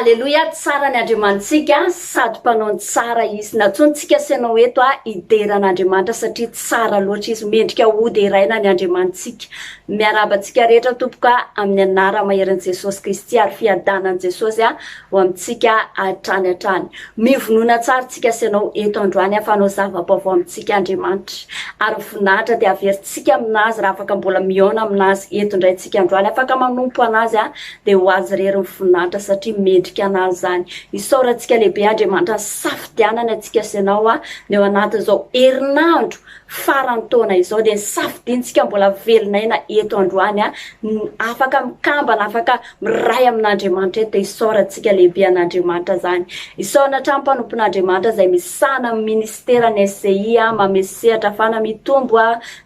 Aleloia, tsara ny Andriamanitsika sady mpanao ny tsara Izy. Natsointsika sy ianao eto a, hidera an'Andriamanitra satria tsara loatra Izy. Mendrika hoderaina ny Andriamanitsika. Miarahaba antsika rehetra tompoko a, amin'ny anara maherin'i Jesosy Kristy ary fiadanan'i Jesosy a. ho amintsika hatrany hatrany. Mivonona tsara tsika sy ianao eto androany hahafanao zava-baovao amintsika Andriamanitra. Ary voninahitra dia haverintsika amin'Azy raha afaka mbola mihaona amin'Azy eto indray tsika androany. Afaka manompo an'Azy dia ho Azy irery ny voninahitra satria mendrika an'Azy izany. Isaorantsika lehibe Andriamanitra ny safidianany antsika sy ianao ny ao anatin'izao herinandro faran'ny taona izao dia safidiantsika mbola velon'aina eto androany ny afaka mikambana, afaka miray amin'Andriamanitra eto dia isaorantsika lehibe an'Andriamanitra izany. Isaorana hatrany mpanompon'Andriamanitra izay misahana amin'ny ministeran'ny SCI, mamehy sehatra afana mitombo,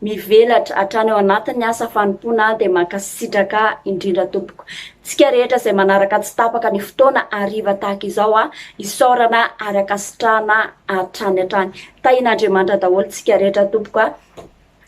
mivelatra hatrany ao anatin'ny asa fanompoana dia mankasitraka indrindra tompoko. Tsika rehetra izay manaraka tsy tapaka ny fotoana hariva tahaka izao, isaorana ary ankasitrahana hatrany hatrany. Tahin'Andriamanitra daholo tsika rehetra tompoko a!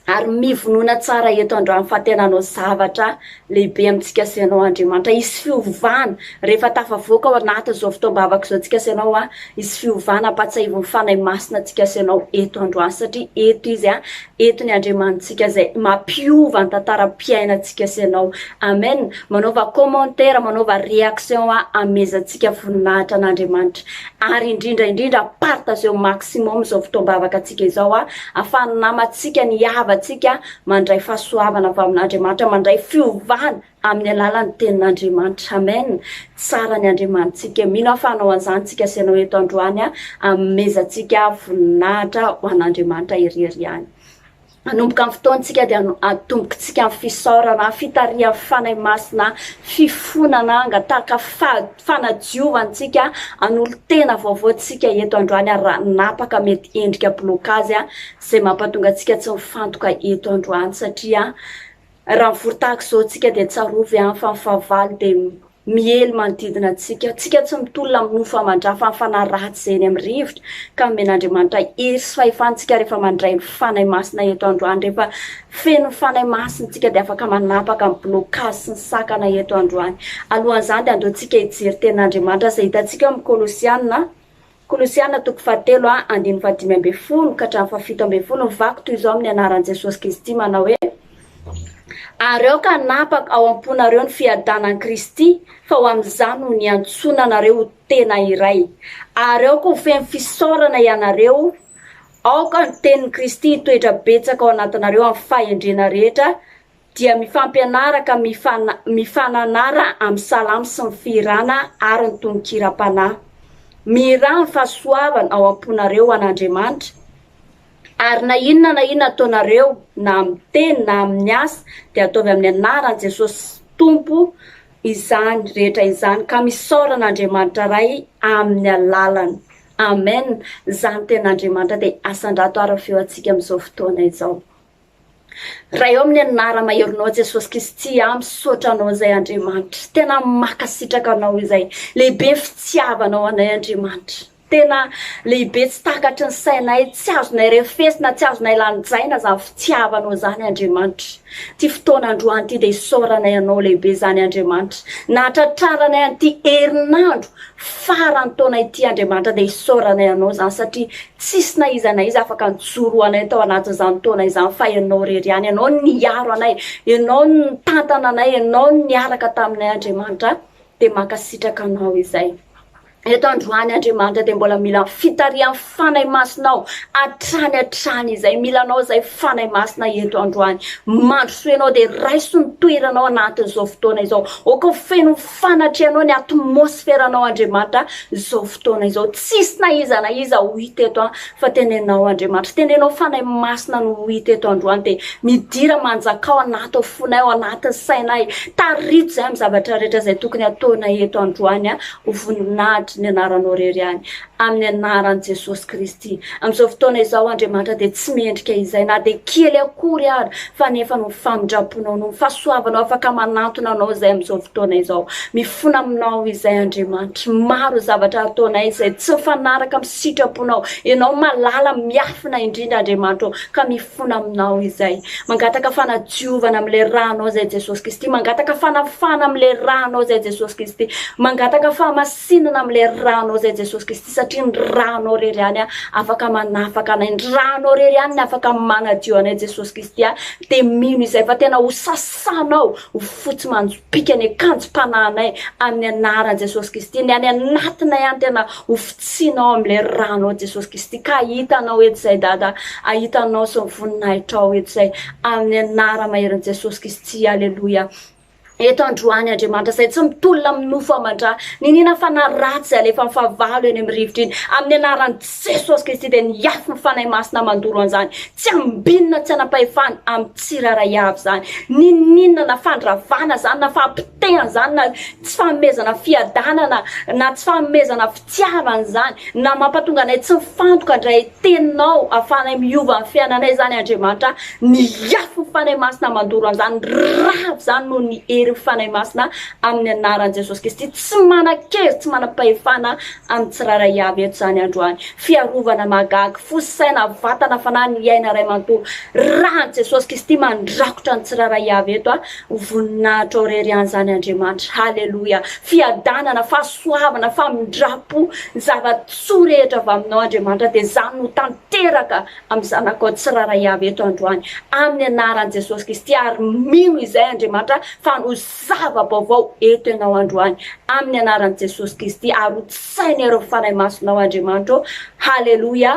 Ary mivonona tsara eto androany fa tena hanao zavatra lehibe amintsika sy ianao Andriamanitra. Hisy fiovana rehefa tafavoaka ao anatin'izao fotoam-bavaka izao tsika sy ianao a! Hisy fiovana ampahatsiahivin'ny Fanahy Masina antsika sy ianao eto androany satria eto Izy a! Eto ny Andriamanitsika izay mampiova ny tantaram-piainantsika sy ianao. Amen! Manaova commentaire, manaova réaction a! Amezantsika voninahitra an'Andriamanitra. ary indrindra indrindra partageo maximum izao fotoam-bavaka antsika izao a afahan'ny namantsika ny havantsika mandray fahasoavana avy amin'Andriamanitra mandray fiovana amin'ny alalan'ny tenin'Andriamanitra amen tsara ny Andriamanitsika mino aho fa anao an'izany tsika sy anao eto androany a amezantsika voninahitra ho an'Andriamanitra irery ihany Hanomboka ny fotoantsika dia atombokintsika amin'ny fisaorana, fitarihan'ny Fanahy Masina, fifonana, hangataka fanadiovana antsika, hanolo-tena vaovao tsika eto androany ary raha napaka mety endrika bilokazy izay mampatonga antsika tsy mifantoka eto androany satria Raha mivory tahaka izao antsika dia tsarovy an fa ny fahavalo dia miely manodidina antsika. Antsika tsy mitolona amin'ny nofo aman-dra fa ny fanahy ratsy izay eny amin'ny rivotra ka nomena Andriamanitra hery sy fahefana antsika rehefa mandray ny Fanahy Masina eto androany. Rehefa feno ny Fanahy Masina isika dia afaka manapaka ny blocage sy ny sakana eto androany. Alohan'izany dia andao antsika hijery tenin'Andriamanitra izay hitantsika ao amin'ny Kolosiana Kolosiana toko fahatelo a, andininy fahadimy ambin'ny folo ka hatramin'ny fahafito ambin'ny folo ny vaky toy izao amin'ny anaran'i Jesosy Kristy manao hoe, Ary aoka hanapaka ao am-ponareo ny fiadanan'i Kristy, fa ho amin'izany no niantsoana anareo ho tena iray. Ary aoka ho feno fisaorana ianareo, aoka ny tenin'i Kristy hitoetra betsaka ao anatinareo amin'ny fahendrena rehetra dia mifampianaraka mifana mifananara amin'ny salamo sy ny fihirana ary ny tononkiram-panahy. Mihirà ny fahasoavana ao am-ponareo ho an'Andriamanitra, ary na inona na inona ataonareo na amin'ny teny na amin'ny asa dia ataovy amin'ny anaran'i Jesosy Tompo izany rehetra izany ka misaora an'Andriamanitra Ray amin'ny alalany. Amen! Izany tenin'Andriamanitra dia asandrato ary ny feo antsika amin'izao fotoana izao. Ray ao amin'ny anara maheronao Jesosy Kristy tsy ahy misaotra anao izay Andriamanitra tena mankasitraka anao izay lehibe ny fitiavanao anay Andriamanitra tena lehibe tsy takatry ny sainay tsy azonay refesina tsy azonay lanjaina izany fitiavanao izany Andriamanitra ty fotoana androany ty dia isaoranay anao lehibe izany Andriamanitra nahatratraranay an'ity herinandro farany taona ity Andriamanitra dia isaoranay anao izany satria Tsisy na iza na iza afaka nijoro ho anay tao anatin'izany taona izany fa Ianao irery ihany. Ianao no niaro anay. Ianao no nitantana anay. Ianao no niaraka taminay, Andriamanitra a! Dia mankasitraka Anao izay. Eto androany, Andriamanitra, dia mbola mila ny fitarihan'ny Fanahy Masinao hatrany hatrany izay. Mila Anao izay, Fanahy Masina, eto androany. Mandrosoy Ianao dia raiso ny toeranao anatin'izao fotoana izao. Aoka ho feno Fanatrehanao ny atmosferanao Andriamanitra izao fotoana izao tsisy na iza na iza ho hita eto an fa tenenao Andriamanitra tenenao Fanahy Masina no ho hita eto androany dia midira manjakao anaty fonay ao anaty sainay tarito izay amin'ny zavatra rehetra izay tokony ataonay eto androany an ho voninahitry ny anaranao rery ihany Amin'ny anaran'i Jesosy Kristy. Amin'izao fotoana izao, Andriamanitra, dia tsy mendrika izay na dia kely akory ary, fa ny efa noho ny famindram-ponao, noho ny fahasoavanao, afaka manantona Anao izay amin'izao fotoana izao. Mifona Aminao izay, Andriamanitra. Maro ny zavatra ataonay izay tsy mifanaraka amin'ny sitraponao. Ianao malala, miafina indrindra, Andriamanitra ô, ka mifona Aminao izay. Mangataka fanadiovana amin'ilay Ranao izay, Jesosy Kristy. Mangataka fanafana amin'ilay Ranao izay, Jesosy Kristy. Mangataka fahamasina. Tsinona amin'ilay ranao izay Jesosy Kristy satria ny ranao irery ihany afaka manafaka anay, ny ranao irery ihany ny afaka manadio anay Jesosy Kristy a, dia mino izay fa tena ho sasanao ho fotsy manjopiaka ny akanjom-panahinay amin'ny anaran'i Jesosy Kristy, ny any anatinay any tena ho fotsianao amin'ilay ranao Jesosy Kristy ka hahita anao eto izay Dada, hahita anao sy ny voninahitrao eto izay amin'ny anara-maherin'i Jesosy Kristy, aleloia. Eto androany Andriamanitra izay tsy mitolona amin'ny nofo aman-dra, niniana fanahy ratsy alefan'ny fahavalo eny amin'ny rivotra iny, amin'ny anaran'i Jesosy Kristy dia niafy ny Fanahy Masina mandoro an'izany tsy ambinina tsy anam-pahefana amin'ny tsirairay avy izany. Niniana na fandravana izany na fahapotehana izany na tsy fanomezana fiadanana na tsy fanomezana Tsy hahavany izany, na mampatonga anay tsy mifantoka indray Teninao ahafahanay miova ny fiainanay izany Andriamanitra a! Ny afon'ny Fanahy Masina mandoro an'izany rava izany noho ny herin'ny Fanahy Masina amin'ny anaran'i Jesosy Kristy tsy manan-kery tsy manam-pahefana amin'ny tsirairay avy eto izany androany Fiarovana mahagaga fo sy saina vatana fanahy ny aina iray manontolo Ràn'i Jesosy Kristy mandrakotra ny tsirairay avy eto a! Ho voninahitra ao irery an'izany Andriamanitra. Haleloia! Fiadanana, fahasoavana, famindram-po, ny zava-tsoa rehetra avy aminao Andriamanitra dia izany no ho tanteraka amin'ny zanakao tsirairay avy eto androany amin'ny anaran'i Jesosy Kristy ary mino izay Andriamanitra fa hanao zava-baovao eto ianao androany amin'ny anaran'i Jesosy Kristy ary hotsaina ireo fanahy masinao Andriamanitra ô. Haleloia!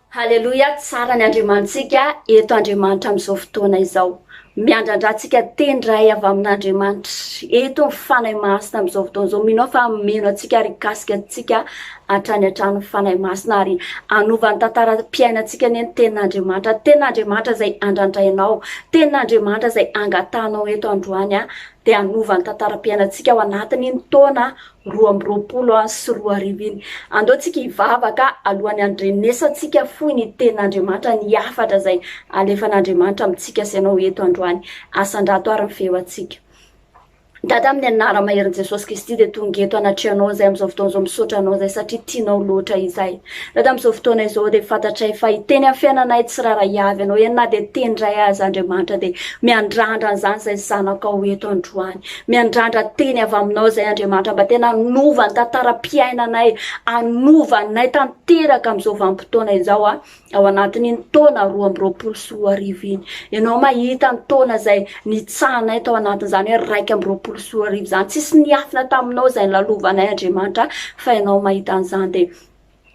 Haleloia tsara ny Andriamanitsika eto Andriamanitra amin'izao fotoana izao miandrandra antsika teny ray avy amin'Andriamanitra eto ny Fanahy Masina amin'izao fotoana izao mino aho fa hameno antsika ary hikasika antsika hatrany hatrany ny Fanahy Masina ary hanova ny tantaram-piainantsika anie ny tenin'Andriamanitra tenin'Andriamanitra izay andrandrainao tenin'Andriamanitra izay angatahanao eto androany dia hanova ny tantaram-piainantsika ao anatin'iny taona roa amby roapolo sy roa arivo iny. Andao tsika hivavaka alohan'ny handrenesantsika fohy ny tenin'Andriamanitra, ny hafatra izay alefan'Andriamanitra amintsika sy ianao eto androany. Asandrato ary ny feo antsika. Dada amin'ny anara-maherin'i Jesosy Kristy dia tonga eto anatrehanao izay amin'izao fotoana izao misaotra anao izay satria tianao loatra izay. Dada amin'izao fotoana izao dia fantatray fa hiteny amin'ny fiainanay tsirairay avy ianao eny na dia teny iray aza Andriamanitra dia miandrandra an'izany izay zanakao eto androany. Miandrandra teny avy aminao izay Andriamanitra mba tena hanova ny tantaram-piainanay, hanova anay tanteraka amin'izao vanim-potoana izao a, ao anatin'iny taona roa amby roapolo sy roa arivo iny. Ianao mahita ny taona izay nitsahanay tao anatin'izany hoe raika amby roapolo sy roa arivo izany. Tsisy niafina taminao izay nilalovanay Andriamanitra fa ianao mahita an'izany dia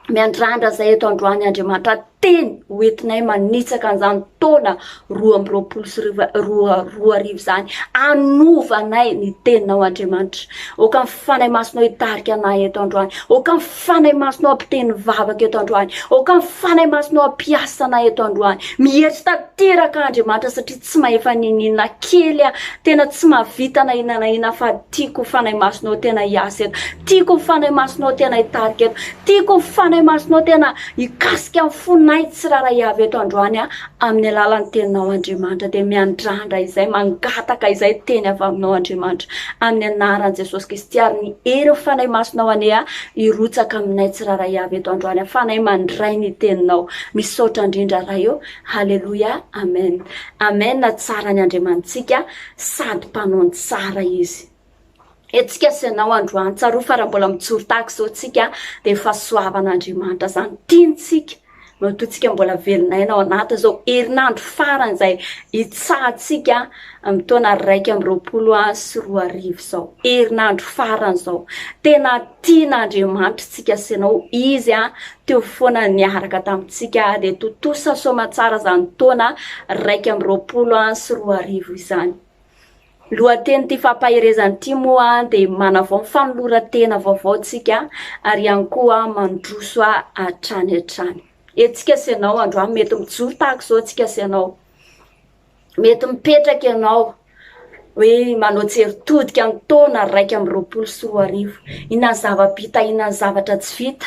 Miandrandra izay eto androany Andriamanitra teny ho entinay manitsaka an'izany taona roa amby roapolo sy roa roa arivo izany. Anovanay ny teninao Andriamanitra. Oka ny fanay masinao hitarika anay eto androany. Oka ny fanay masinao hampiteny vavaka eto androany. Oka ny fanay masinao hampiasa anay eto androany. Mihetsy tanteraka Andriamanitra satria Tsy mahefa niniana kely aho. Tena tsy mahavita na inona na inona fa tiako ny Fanahy Masinao tena hiasa eto. Tiako ny Fanahy Masinao tena hitarika eto. Tiako ny Fanahy Masinao tena hikasika ny fonay tsirairay avy eto androany aho amin'ny alalan'ny Teninao Andriamanitra. Dia miandrandra izay, mangataka izay teny avy Aminao Andriamanitra. Amin'ny anaran'i Jesosy Kristy ary ny herin'ny Fanahy Masinao anie aho hirotsaka aminay tsirairay avy eto androany aho. Fanahy mandray ny Teninao. Misaotra indrindra Ray o. Haleloia amen amen tsara ny Andriamanitsika sady mpanao ny tsara izy eto tsika sy ianao androany tsaroa fa raha mbola mijoro tahaka izao tsika dia fahasoavan'Andriamanitra zany tiantsika matoa tsika mbola velon'aina ao anaty izao herinandro farany izay itsahantsika amin'ny taona raika amin'ny roapolo sy roa arivo izao herinandro farany izao tena tian'Andriamanitra tsika sy ianao izy a teo foana niaraka tamintsika dia tontosa soamantsara izany taona raika amby roapolo sy roa arivo izany. Lohatenin'ity fampaherezana ity moa dia manavao ny fanoloran-tena vaovao tsika ary ihany koa mandroso hatrany hatrany. Etsika sy ianao androany mety mijoro tahaka izao tsika sy ianao. Mety mipetraka ianao hoe manao tseritodika ny taona raika amby roapolo sy roa arivo. Inona ny zava-bita, inona ny zavatra tsy vita.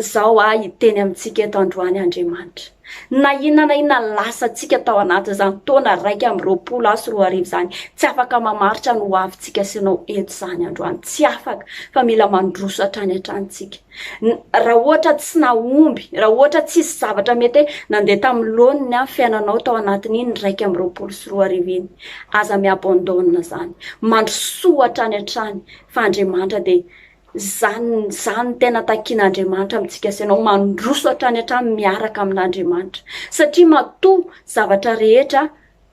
Izao aho hiteny amintsika eto androany Andriamanitra. Na inona na inona lasantsika tao anatin'izany taona iraika amby roapolo aho sy roa arivo izany, tsy afaka mamaritra ny hoavintsika sy anao eto izany androany. Tsy afaka, fa mila mandroso hatrany hatrany tsika. Raha ohatra tsy nahomby, raha ohatra tsisy zavatra mety hoe nandeha tamin'ny laoniny an, fiainanao tao anatin'iny iraika amby roapolo sy roa arivo iny, aza mi-abandonne izany. Mandrosoa hatrany hatrany, fa Andriamanitra dia Izany, izany no tena takian'Andriamanitra amintsika sy ianao, mandroso hatrany hatrany miaraka amin'Andriamanitra. Satria matoa zavatra rehetra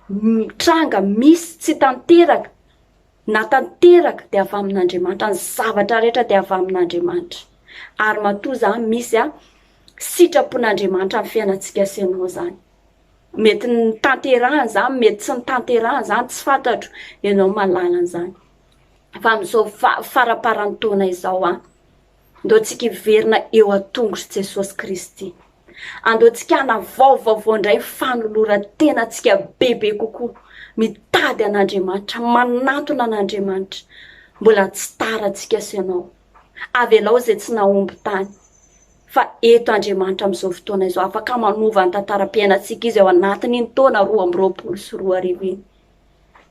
mitranga, misy, tsy tanteraka, na tanteraka dia avy amin'Andriamanitra, ny zavatra rehetra dia avy amin'Andriamanitra. Ary matoa izany misy a, sitrapon'Andriamanitra amin'ny fiainantsika sy ianao izany. Mety ny tanterahana izany, mety tsy ny tanterahana izany, tsy fantatro, ianao mahalala an'izany. fa amin'izao faramparan'ny taona izao an! Andeontsika hiverina eo an-tongotr'i Jesosy Kristy. Andeontsika hanavao vaovao indray ny fanoloran-tenantsika bebe kokoa, mitady an'Andriamanitra, manantona an'Andriamanitra. Mbola tsy tara antsika sy ianao. Avelao izay tsy nahomby tany. Fa eto Andriamanitra amin'izao fotoana izao, afaka manova ny tantaram-piainantsika izy ao anatin'iny taona roa amby roapolo sy roa arivo iny.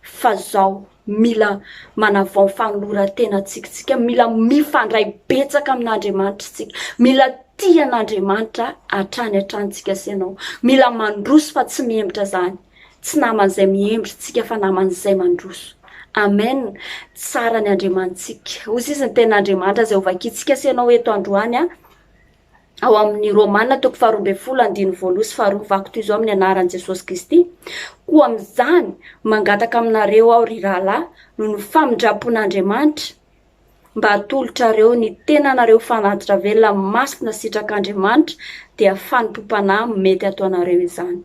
fa zao mila manavao fanoloran-tena antsika tsika mila mifandray betsaka amin'andriamanitra tsika mila ti an'andriamanitra atrany an-trany tsika sy ianao mila mandroso fa tsy mihemitra zany tsy naman'izay mihembry tsika fa naman'izay mandroso amen tsara ny andriamanitsika ozy izy ny ten'andriamanitra zay hovakitsika sy ianao eto androany a ao amin'ny Romana toko faharoa ambin'ny folo andininy voaloha sy faharoa, Vaky toy izao amin'ny anaran'i Jesosy Kristy, koa amin'izany mangataka aminareo aho, ry rahalahy, noho ny famindram-pon'Andriamanitra, mba hatolotrareo ny tenanareo fanatitra velona masina sitrak'Andriamanitra, dia fanompoam-panahy mety ataonareo izany.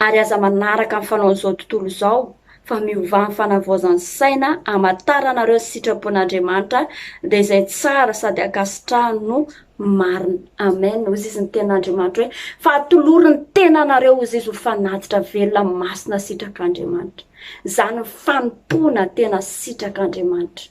ary aza manaraka ny fanaon'izao tontolo izao fa miovà ny fanavaozan'ny saina hamantaranareo ny sitrapon'Andriamanitra dia izay tsara sady ankasitrahany no marina amen hozy izy ny ten'Andriamanitra hoe fa atoloro ny tenanareo hozy izy ho fanatitra velona masina sitrak'Andriamanitra izany fanompoana tena sitrak'Andriamanitra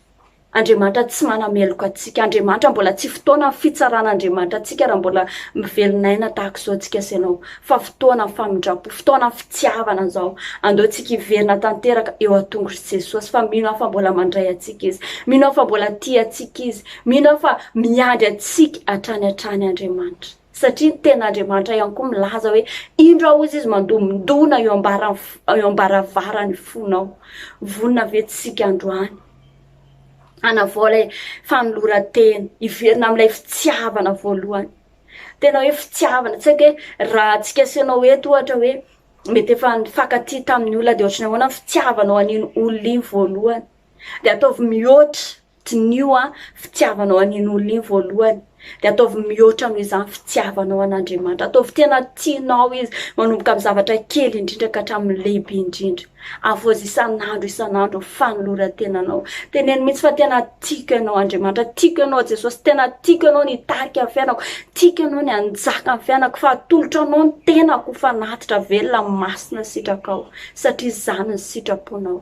Andriamanitra tsy manameloka antsika. Andriamanitra mbola tsy fotoana fitsarana Andriamanitra antsika raha mbola mivelonaina tahaka izao tsika sy ianao. Fa fotoana famindrampo, fotoana fitiavana izao. Andao tsika hiverina tanteraka eo an-tongotr'i Jesosy fa mino aho fa mbola mandray antsika Izy. Mino aho fa mbola tia antsika Izy. Mino aho fa miandry antsika hatrany hatrany Andriamanitra. satria ny tenin'Andriamanitra ihany koa milaza hoe indro aho hozy izy mandomindona eo ambaravaran'ny fonao vonona ve tsika androany hanavao ilay fanoloran-tena hiverina amin'ilay fitiavana voalohany tena hoe fitiavana tsy haiko hoe raha tsika aseanao eto ohatra hoe mety efa nifakatia tamin'ny olona dia ohatrany ahoana fitiavanao an'iny olona iny voalohany dia ataovy mihoatra Diniho an fitiavanao an iny olona iny voalohany de ataovy mihoatra noho izany fitiavanao an Andriamanitra. Ataovy tena tianao izy manomboka amin'ny zavatra kely indrindra ka hatramin'ny lehibe indrindra. Avoazy isan'andro isan'andro ny fanoloran-tenanao. Teneno mihitsy fa tena tiako ianao Andriamanitra, tiako ianao Jesosy, tena tiako ianao ny hitarika ny fiainako, tiako ianao ny hanjaka amin'ny fiainako fa atolotro anao ny tenako ho fanatitra velona amin'ny masina sitrakao satria izany ny sitraponao.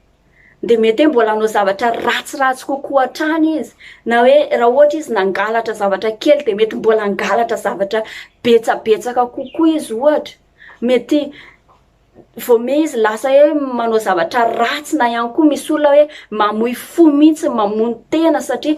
dia mety hoe mbola hanao zavatra ratsiratsy kokoa hatrany izy, na hoe raha ohatra izy nangalatra zavatra kely dia mety mbola hangalatra zavatra betsabetsaka kokoa izy ohatra, mety voamey izy lasa hoe manao zavatra ratsy na ihany koa misy olona hoe mamoy fo mihitsy mamono tena satria.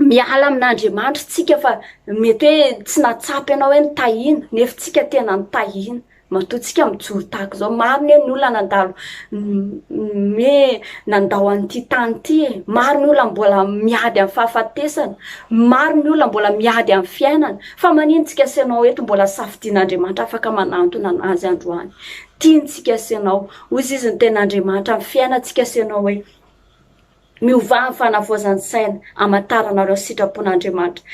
miala amin'Andriamanitra tsika fa mety hoe tsy nahatsapa ianao hoe nitahiana, nefa tsika tena nitahiana. Matoa tsika mijoro tahaka izao. Maro anie ny olona nandalo nandao an'ity tany ity e. Maro ny olona mbola miady amin'ny fahafatesana. Maro ny olona mbola miady amin'ny fiainana. Fa manino tsika sy ianao eto mbola safidin'Andriamanitra afaka manantona an'Azy androany. Tiany tsika sy ianao. Hoy izy izy ny tenin'Andriamanitra amin'ny fiainantsika sy ianao hoe, Miovà ny fanavaozan-tsaina hamantaranareo ny sitrapon'Andriamanitra,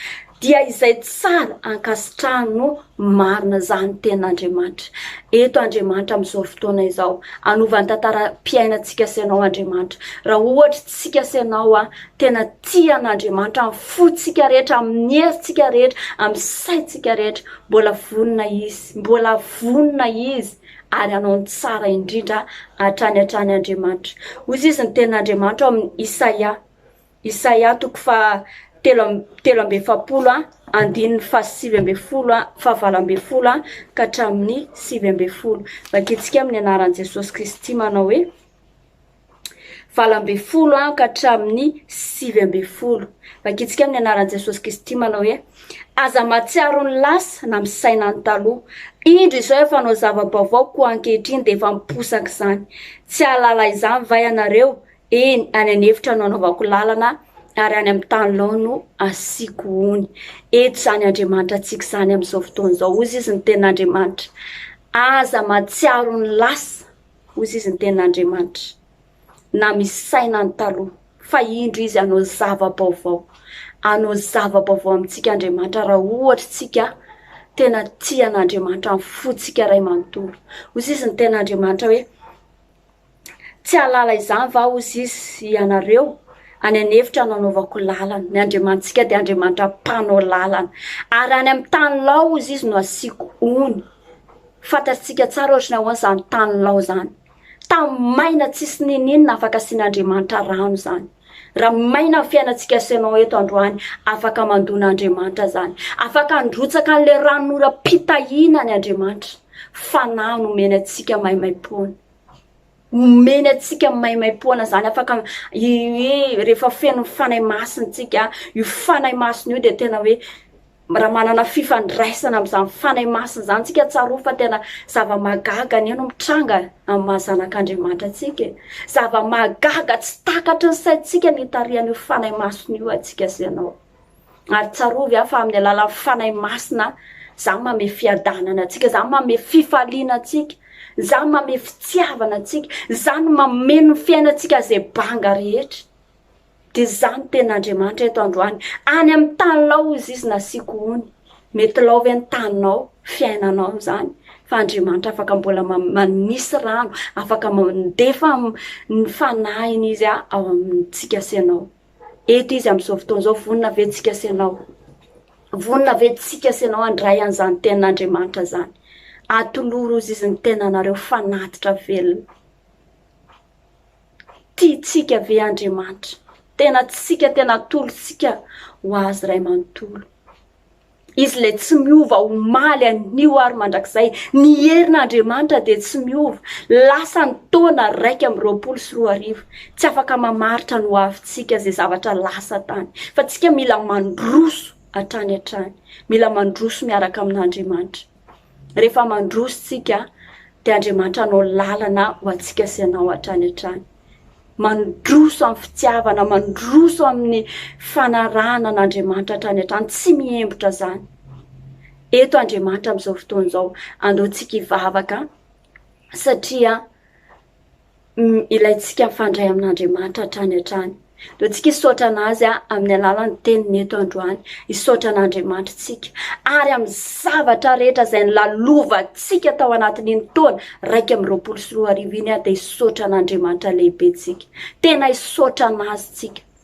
dia izay tsara ankasitrahany no marina izany ny tenin'Andriamanitra. Eto Andriamanitra amin'izao fotoana izao, hanova ny tantaram-piainantsika sy ianao Andriamanitra. Raha ohatra tsika sy ianao an, tena tia an'Andriamanitra amin'ny fontsika rehetra, amin'ny herintsika rehetra, amin'ny saintsika rehetra, mbola vonona Izy, mbola vonona Izy. ary hanao ny tsara indrindra hatrany hatrany Andriamanitra. Hoy izy ny tenin'Andriamanitra ao amin'ny Isaia, Isaia toko faha telo am- telo amby efapolo a, andininy faha sivy amby folo a, faha valo amby folo a, ka hatramin'ny sivy amby folo. Vakintsika amin'ny anaran'i Jesosy Kristy manao hoe. valo ambin'ny folo an ka hatramin'ny sivy ambin'ny folo. Vakitsika amin'ny anaran'i Jesosy Kristy manao hoe aza mahatsiaro ny lasa na misaina ny taloha. Indro izao efa hanao zava-baovao koa ankehitriny dia efa miposaka izany. Tsy hahalala izany va ianareo? Eny, any an'efitra no anaovako lalana ary any amin'ny tany lao no asiako ony. Eto izany Andriamanitra antsika izany amin'izao fotoana izao. Hoy izy ny tenin'Andriamanitra. Aza mahatsiaro ny lasa. Hoy izy ny tenin'Andriamanitra, na misaina ny taloha, fa indro izy hanao zava-baovao. Hanao zava-baovao amintsika Andriamanitra raha ohatra isika tena tia an'Andriamanitra amin'ny fontsika iray manontolo. Hoy izy ny tenin'Andriamanitra hoe, tsy hahalala izany va hoy izy ianareo? any an'efitra nanaovako lalana. Ny Andriamanitsika dia Andriamanitra mpanao lalana. Ary any amin'ny tany laozy izy no asiako ony. Fantatsika tsara ohatry ny ahoana izany tany lao izany. Tany maina tsisy n'inon'inona afaka asian'Andriamanitra rano izany. Raha maina ny fiainantsika sy ianao eto androany, afaka mandona Andriamanitra izany. Afaka handrotsaka an'ilay ranonoram-pitahiana ny Andriamanitra. Fanahy no omeny antsika maimaimpoana. Omeny antsika maimaimpoana izany. Afaka rehefa feno ny Fanahy Masina isika, io Fanahy Masina io dia tena hoe Raha manana fifandraisana amin'izany Fanahy Masina izany tsika, tsarovy fa tena zava-mahagaga anie no mitranga amin'ny maha zanak'Andriamanitra antsika e. Zava-mahagaga tsy takatry ny saintsika ny hitarihan'io Fanahy Masina io antsika sy ianao. Ary tsarovy aho fa amin'ny alalan'ny Fanahy Masina izany manome fiadanana antsika, izany manome fifaliana antsika, izany manome fitiavana antsika, izany mameno ny fiainantsika izay banga rehetra. Dia izany tena Andriamanitra eto androany. Any amin'ny taninao hozy izy nasiako ony. Mety lao ve ny taninao, fiainanao amin'izany? Fa Andriamanitra afaka mbola manisy rano, afaka mandefa ny fanahiny izy ao amintsika sy ianao. Eto izy amin'izao fotoana izao, vonona ve tsika sy ianao? Vonona ve tsika sy ianao handray an'izany tenin'Andriamanitra izany? Atoloro hozy izy ny tenanareo fanatitra velona. Tiantsika ve Andriamanitra? Tena tsika, tena atolotsika ho Azy Ray manontolo. Izy ilay tsy miova omaly anio ary mandrakizay. Ny herin'Andriamanitra dia tsy miova. Lasa ny taona raika amby roapolo sy roa arivo. Tsy afaka mamaritra ny hoavintsika izay zavatra lasa tany. Fa tsika mila mandroso hatrany hatrany. Mila mandroso miaraka amin'Andriamanitra. Rehefa mandroso isika, dia Andriamanitra hanao lalana ho antsika sy anao hatrany hatrany. Mandroso amin'ny fitiavana, mandroso amin'ny fanarahana an'Andriamanitra hatrany hatrany, tsy mihembotra izany. Eto Andriamanitra amin'izao fotoana izao, andeontsika hivavaka satria ilaintsika mifandray amin'Andriamanitra hatrany hatrany. Aleontsika hisaotra an'azy amin'ny alalan'ny teniny eto androany, hisaotra an'Andriamanitra tsika. Ary amin'ny zavatra rehetra izay nilalovantsika tao anatin'iny taona raika amby roapolo sy roa arivo iny dia hisaotra an'Andriamanitra lehibe tsika. Tena hisaotra an'azy tsika.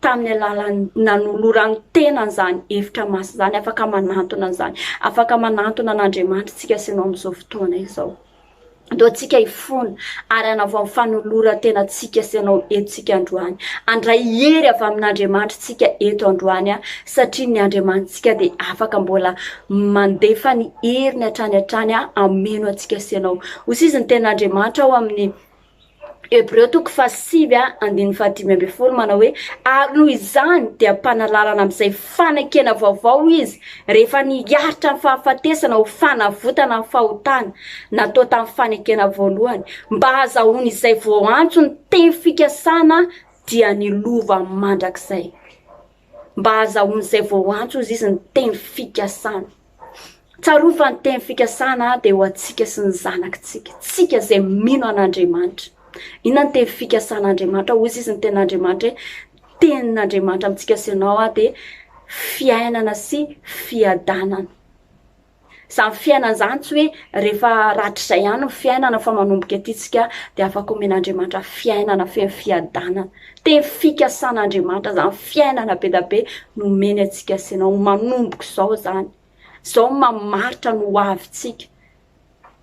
tamin'ny alalan'ny nanolorany tena an'izany hevitra masina izany, afaka manantona an'izany, afaka manantona an'Andriamanitra isika sy anao amin'izao fotoana izao. Andao antsika hifona ary hanavao amin'ny fanoloran-tena antsika sy anao entsika androany. Andray hery avy amin'Andriamanitra isika eto androany aho, satria ny Andriamanitsika dia afaka mbola mandefa ny heriny hatrany hatrany aho, ameno antsika sy anao. Ho sizy ny ten'Andriamanitra ao amin'ny Hebreo toko fahasivy andininy fahadimy ambin'ny folo manao hoe ary noho izany dia mpanalalana amin'izay fanekena vaovao izy rehefa niharitra ny fahafatesana ho fanavotana ny fahotana natao tamin'ny fanekena voalohany mba hazahoany izay voantso ny teny fikasana dia ny lova mandrakizay mba hazahoany izay voantso izy izy ny teny fikasana Tsarovy fa ny teny fikasana dia ho antsika sy ny zanakitsika, tsika izay mino an'Andriamanitra. Inona ny teny fikasan'Andriamanitra? Hoy izy ny tenin'Andriamanitra hoe tenin'Andriamanitra amintsika sy ianao dia fiainana sy fiadanana. Izany fiainana izany tsy hoe rehefa ratr'izay ihany ny fiainana fa manomboka ety tsika dia afaka omen'Andriamanitra fiainana feno fiadanana. Teny fikasan' Andriamanitra zany, fiainana be da be no omeny antsika sena ho manombok' izao zany, zao ny mamaritra ny ho avintsika,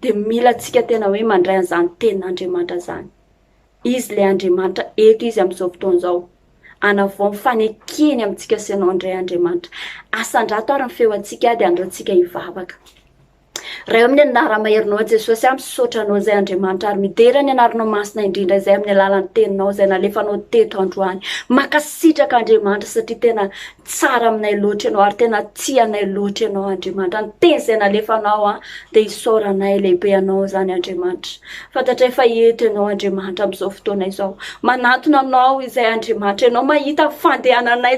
de mila antsika tena hoe mandray an'izany tenin' Andriamanitra zany, Izy le Andriamanitra eto Izy amin'izao fotoana izao, anavao ny fanekeny amintsika sena indray Andriamanitra, asandrato ary ny feo antsika de andao antsika hivavaka. Ray amin'ny anaramaherinao i Jesosy aho misaotra anao izay Andriamanitra ary midera ny anaranao masina indrindra izay amin'ny alalan'ny teninao izay nalefanao teto androany. Makasitraka Andriamanitra satria tena tsara aminay loatra ianao ary tena tia anay loatra ianao Andriamanitra. Ny teny izay nalefanao an dia isaoranay lehibe anao izany Andriamanitra. Fantatray fa eto ianao Andriamanitra amin'izao fotoana izao. Manatona anao izay Andriamanitra ianao mahita fandehananay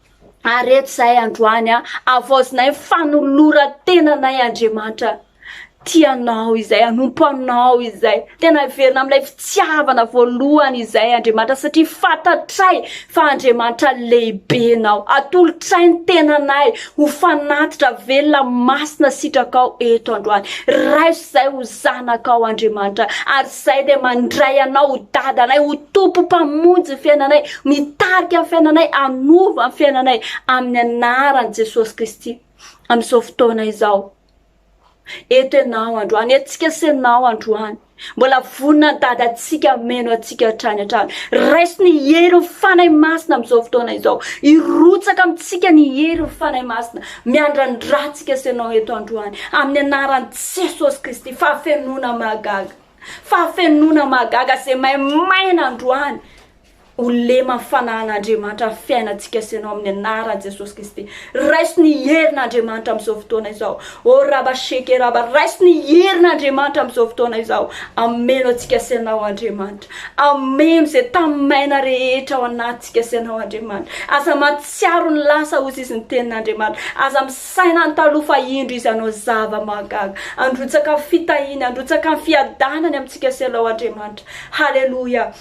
Ary eto izahay androany an, havaozinay ny fanoloran-tenanay Andriamanitra tia anao izay, hanompo anao izay. Tena heverina amin'ilay fitiavana voalohany izay Andriamanitra satria fantatray fa Andriamanitra lehibe nao. Atolotray ny tenanay ho fanatitra velona masina sitrakao eto androany. Raiso Izay ho zanakao Andriamanitra, ary izay dia mandray anao ho dadanay, ho Tompo Mpamonjy ny fiainanay, mitarika ny fiainanay, hanova ny fiainanay amin'ny anaran'i Jesosy Kristy amin'izao fotoana izao. Eto ianao androany, etsika sy ianao androany. Mbola vonona ny dadantsika hameno antsika hatrany hatrany. Raiso ny herin'ny Fanahy Masina amin'izao fotoana izao. Irotsaka amintsika ny herin'ny Fanahy Masina. Miandrandra antsika sy ianao eto androany amin'ny anaran'i Jesosy Kristy. Fahafenoana mahagaga. Fahafenoana mahagaga izay maimaina androany ho lema fanan'Andriamanitra ny fiainantsika sy ianao amin'ny anaran'i Jesosy Kristy. Raiso ny herin'Andriamanitra amin'izao fotoana izao. O raba sheke raba, raiso ny herin'Andriamanitra amin'izao fotoana izao. Ameno antsika sy ianao Andriamanitra. Ameno izay tamimaina rehetra ao anatintsika sy Ianao, Andriamanitra. Aza mahatsiaro ny lasa, hozy izy ny Tenin'Andriamanitra. Aza misaina ny taloha, fa indro Izy hanao zava-mahagaga. Handrotsaka ny fitahiany, handrotsaka ny fiadanany amintsika sy Ianao, Andriamanitra. Haleloia!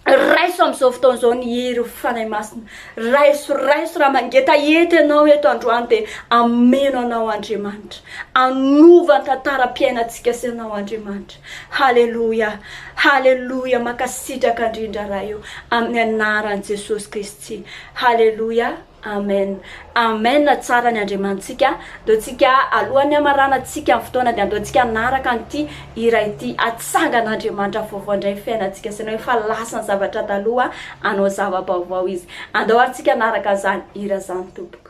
Raiso amin'izao fotoana izao ny hery, o Fanahy Masina. Raiso, raiso, raha mangetaheta Ianao eto androany, dia ameno Anao, Andriamanitra. Anova ny tantaram-piainantsika sy Ianao, Andriamanitra. Haleloia Haleloia Mankasitraka indrindra Ray o Amin'ny Anaran'i Jesosy Kristy Haleloia Amen Amen Tsara ny Andriamanitsika Andeontsika aloha ny hamaranantsika ny fotoana dia andeontsika hanaraka an'ity hira ity Hatsangana Andriamanitra vaovao indray ny fiainantsika Sainao efa lasa ny zavatra taloha hanao zava-baovao Izy Andao ary tsika hanaraka izany hira izany tompoko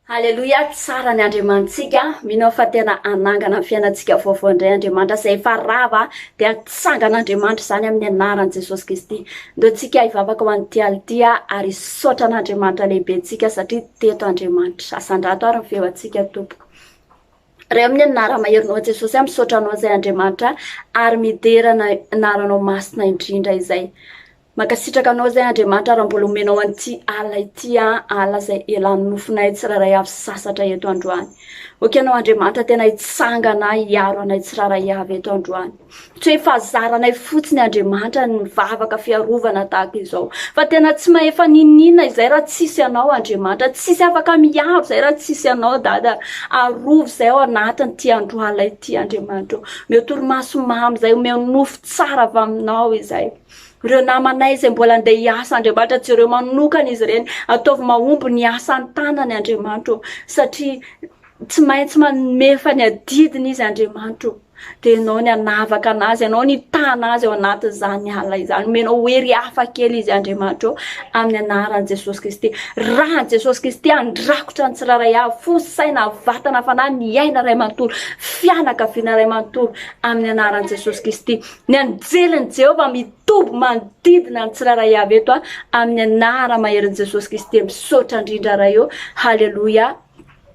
Haleloia tsara ny Andriamanitsika mino aho fa tena hanangana ny fiainantsika vaovao indray Andriamanitra izay efa rava dia hatsangana Andriamanitra izany amin'ny anaran'i Jesosy Kristy ndao tsika hivavaka ho an'ity alina ity ary hisaotra an'Andriamanitra lehibe tsika satria teto Andriamanitra asandrato ary ny feo antsika tompoko Ray amin'ny anara maherinao an'i Jesosy aho misaotra anao izay Andriamanitra ary midera ny anaranao masina indrindra izay Mankasitraka anao izay Andriamanitra raha mbola omenao an'ity alina ity an, alina izay elan'ny nofonay tsirairay avy sasatra eto androany. Ok anao Andriamanitra tena hitsangana hiaro anay tsirairay avy eto androany. Tsy hoe fahazaranay fotsiny Andriamanitra ny vavaka fiarovana tahaka izao. Fa tena tsy mahefa n'inon'inona izay raha tsisy anao Andriamanitra. Tsisy afaka miaro izay raha tsisy anao Dada. Arovy izay ao anatin'ity andro alina ity Andriamanitra. Omeo torimaso mamy izay, omeo nofo tsara avy aminao izay. Ireo namanay izay mbola andeha hiasa Andriamanitra, jereo manokana izy ireny. Ataovy mahomby ny asa an-tanany Andriamanitra ô. Satria tsy maintsy mamefa ny adidiny izy Andriamanitra Dia ianao ny anavaka anazy, ianao ny hitana azy ao anatin'izany alina izany. Omenao hery hafa kely izy Andriamanitra ô. Amin'ny anaran'i Jesosy Kristy. Raha an'i Jesosy Kristy handrakotra ny tsirairay avy, fo, saina, vatana, fanahy, ny aina iray manontolo, fianakaviana iray manontolo. Amin'ny anaran'i Jesosy Kristy. Ny anjelin'i Jehovah mitoby manodidina ny tsirairay avy eto a, amin'ny anara maherin'i Jesosy Kristy dia misaotra indrindra Ray ô. Haleloia.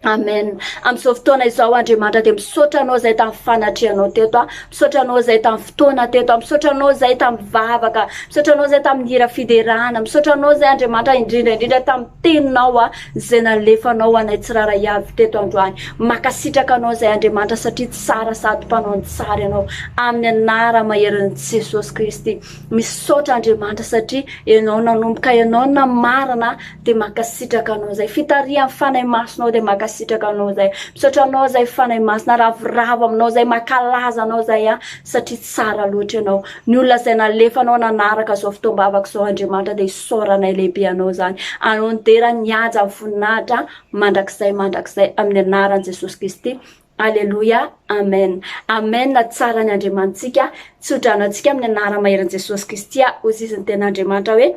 Amen. Amin'izao fotoana izao Andriamanitra dia misaotra anao izay tamin'ny fanatrehanao teto a. Misaotra anao izay tamin'ny fotoana teto a. Misaotra anao izay tamin'ny vavaka. Misaotra anao izay tamin'ny hira fiderana. Misaotra anao izay Andriamanitra indrindra indrindra tamin'ny teninao a. Zay nalefanao anay tsiraray avy teto androany makasitraka anao zay Andriamanitra satria tsara sady mpanao ny tsara ianao amin'ny anara maherin'i Jesosy Kristy misaotra Andriamanitra satria ianao nanomboka ianao namarana dia makasitraka anao zay fitarihan'ny fanahy masinao dia makasitraka anao zay misaotra anao zay fanahy masina ravoravo aminao zay makalaza anao zay a satria tsara loatra ianao ny olona zay nalefanao nanaraka zao fotoam-bavaka zao Andriamanitra dia Fisaoranay lehibe anao izany. Anao no dera ny haja ny voninahitra mandrakizay mandrakizay amin'ny anaran'i Jesosy Kristy. Aleloia. Amen. Amen tsara ny Andriamanitsika. Tsodrano antsika amin'ny anara maheran'i Jesosy Kristy a. Hoy izy ny tena Andriamanitra hoe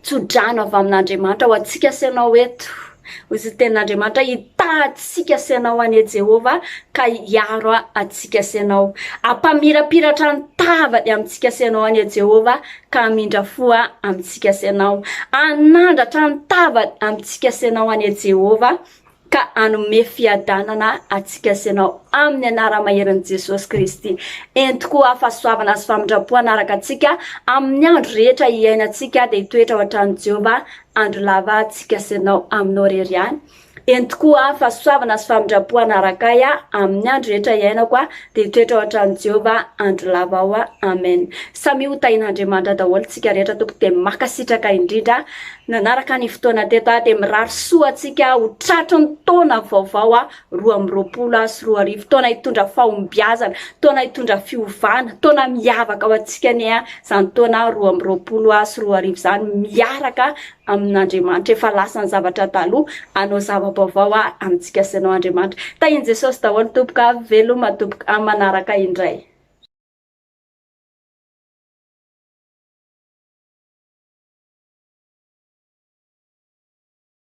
tsodrano avy amin'Andriamanitra ho antsika sy ianao eto. Hoy izy ny tena Andriamanitra hitahatsika sy ianao anie Jehovah ka hiaro antsika sy ianao. Hampamirapiratra ny tavany amintsika sy ianao anie Jehovah ka hamindra fo ahy amintsika sy ianao, hanandratra ny tavany amintsika sy ianao anie Jehovah, ka hanome fiadanana antsika sy ianao amin'ny anara-maheran'i Jesosy Kristy. Ento koa aho fahasoavana sy famindram-po hanaraka antsika amin'ny andro rehetra iainantsika, dia hitoetra ao an-tranon'i Jehovah andro lava antsika sy ianao aminao irery ihany. Eny tokoa aho, fahasoavana sy famindram-po hanaraka ahy amin'ny andro rehetra iainako aho, dia hitoetra ao an-tranon'i Jehovah andro lava aho. Amen. Samia ho tahin'Andriamanitra daholo isika rehetra tompoko dia makasitraka indrindra nanaraka ny fotoana teto aho dia mirary soa antsika ho tratry ny taona vaovao roa amby roapolo sy roa arivo taona hitondra fahombiazana taona hitondra fiovana taona miavaka ho antsika anie izany taona roa amby roapolo sy roa arivo izany miaraka amin'Andriamanitra. Efa lasa ny zavatra taloha, hanao zava-baovao aho amintsika sy ianao Andriamanitra. Tahin'i Jesosy daholo tompoko a! Veloma tompoko amin'ny manaraka indray.